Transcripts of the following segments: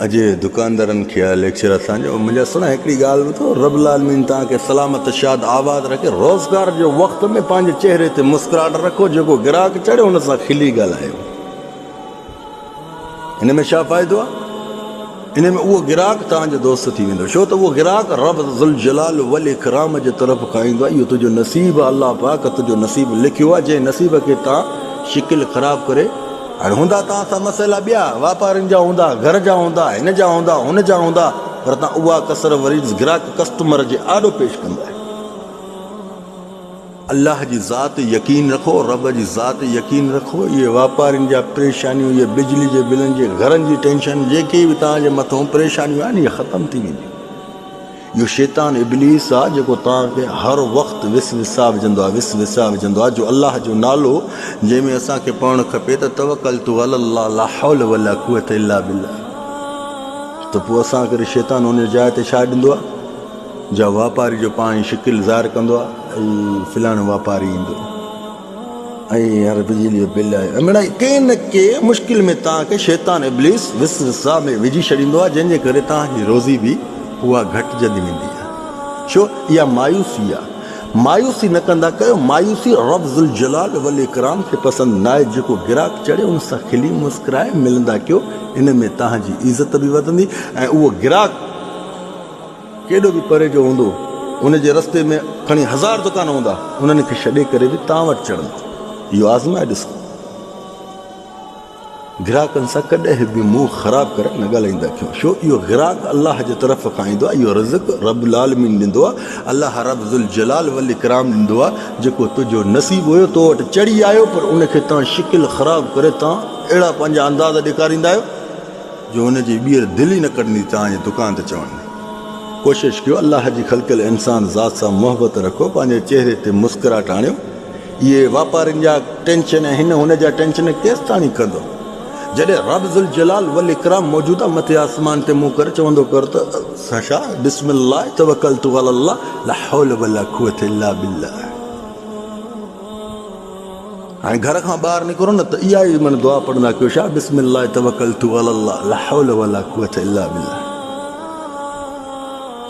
اڄ دڪاندارن کي آيل ليڪچر اسان جو منهنجا سھڻا هڪڙي ڳالهه ٻڌو رب العالمين توهان کي سلامت شاد آباد رکي روزگار جو وقت ۾ پنهنجي چهري تي مسڪراهٽ رکو جيڪو گراهڪ چڙهي ان سان کلي ڳالهايو ان ۾ ڇا فائدو آهي ان ۾ اهو گراهڪ توهان جو دوست ٿي ويندو ڇو ته اهو گراهڪ رب ذوالجلال والاڪرام جي طرف کان ايندو آهي اهو تنهنجو نصيب آهي الله پاڪ تنهنجو نصيب لکيو آهي جنهن نصيب کي تان شڪل خراب ڪري هاڻي هوندا توهان سان مسئلا ٻيا، واپارين جا هوندا، گهر جا هوندا، هن جا هوندا، هن جا هوندا، پر توهان اها ڪسر وري گراهڪ، ڪسٽمر، جي آڏو پيش ڪندا آهيو. الله جي ذات تي يقين رکو، رب جي ذات تي يقين رکو، اهي واپارين جا پريشانيون، اهي بجلي جي بلن جي، گهرن جي ٽينشن، جيڪي به توهان جي مٿون پريشانيون آهن، اهي ختم ٿي وينديون. اهو شيطان ابليس آ جيڪو توهان کي هر وقت وس وسا وجهندو آهي وس وسا وجهندو آهي جو الله جو نالو جنهن ۾ اسان کي پڙهڻ کپي ته توڪلت علي الله لا حول ولا قوت الا بالله ته پوء اسان ڪري شيطان ان جاء تي ڇا ڏيندو آهي جا واپاري جو پاڻ شڪل ظاهر ڪندو آهي ۽ فلاڻو واپاري ايندو ۽ هر بجلي جو بل آهي امڙائي ڪي نه ڪي مشڪل ۾ توهان کي شيطان ابليس وسوسه ۾ وجهي ڇڏيندو آهي جنهن جي ڪري توهان جي روزي به اها گهٽجندي ويندي آهي ڇو اها مايوسي آهي مايوسي نه ڪندا ڪيو مايوسي رب ذوالجلال والاڪرام کي پسند ناهي جيڪو گراهڪ چڙهي ان سان کلي مسڪرائي ملندا ڪيو ان ۾ توهان جي عزت به وڌندي ۽ اهو گراهڪ ڪيڏو به پري جو هوندو، ان جي رستي ۾ کڻي هزار دڪان هوندا، انهن کي ڇڏي ڪري به تان وٽ چڙهندو. اهو آزمائي ڏسو. گراهڪن سان ڪڏهن به منهن خراب ڪري نه ڳالهائيندا اکيون، ڇو اهو گراهڪ الله جي طرف کان ايندو آهي، اهو رزق رب العالمين ڏيندو آهي، الله رب ذوالجلال والاڪرام ڏيندو آهي، جيڪو تنهنجو نصيب هيو تو وٽ چڙهي آيو پر ان کي تان شڪل خراب ڪري تان اهڙا پنهنجا انداز ڏيکاريندا آهيو. جو ان جي ٻيهر دل ئي نه ڪرندي ته آنهي دڪان تي چوڻ ۾ ڪوشش ڪيو الله جي خلقيل انسان ذات سان محبت رکو پنهنجي چهري تي مسڪراهٽ آڻيو اهي واپارين جا ٽينشن ۽ هن هن جا ٽينشن ڪيستاڻي ڪندو جڏهن رب ذوالجلال والاڪرام موجوده مٿي آسمان تي منهن ڪري چوندو ڪر ته سشا بسم الله توکلت علي الله لاحول ولاقوت الا بالله هاڻي گهر کان ٻاهر نڪرو نه ته اها ئي من دعا پڙهندا ڪيو شاهه بسم الله توڪلت علي الله لا حول ولا قوت الا بالله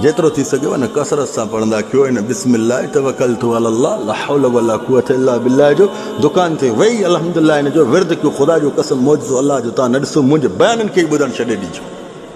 جيترو ٿي سگهيو ان ڪثرت سان پڙهندا ڪيو ان بسم الله توڪلت علي الله لا حول ولا قوت الا بالله جو دڪان تي ويئي الحمدلله ان جو ورد ڪيو خدا جو قسم معجزو الله جو تان نه ڏسو منهنجي بيانن کي ئي ٻڌڻ ڇڏي ڏجو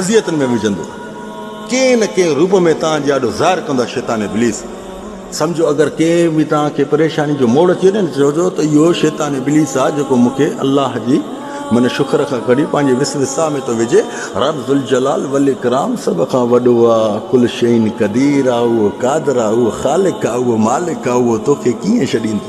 اذيتن ۾ وجهندو ڪنهن نه ڪنهن روپ ۾ توهان جي آڏو ظاهر ڪندو آهي شيطان ابليس سمجهو اگر ڪنهن به توهان کي پريشاني جو موڙ اچي وڃي نه ته چئجو ته اهو شيطان ابليس آهي جيڪو مون کي الله جي من شڪر کان ڪڍي پنهنجي وسوسه ۾ ٿو وجهي رب ذوالجلال والاڪرام سڀ کان وڏو آهي ڪل شيء قدير آهي اهو قادر آهي اهو خالق آهي اهو مالڪ آهي اهو توکي ڪيئن ڇڏيندو.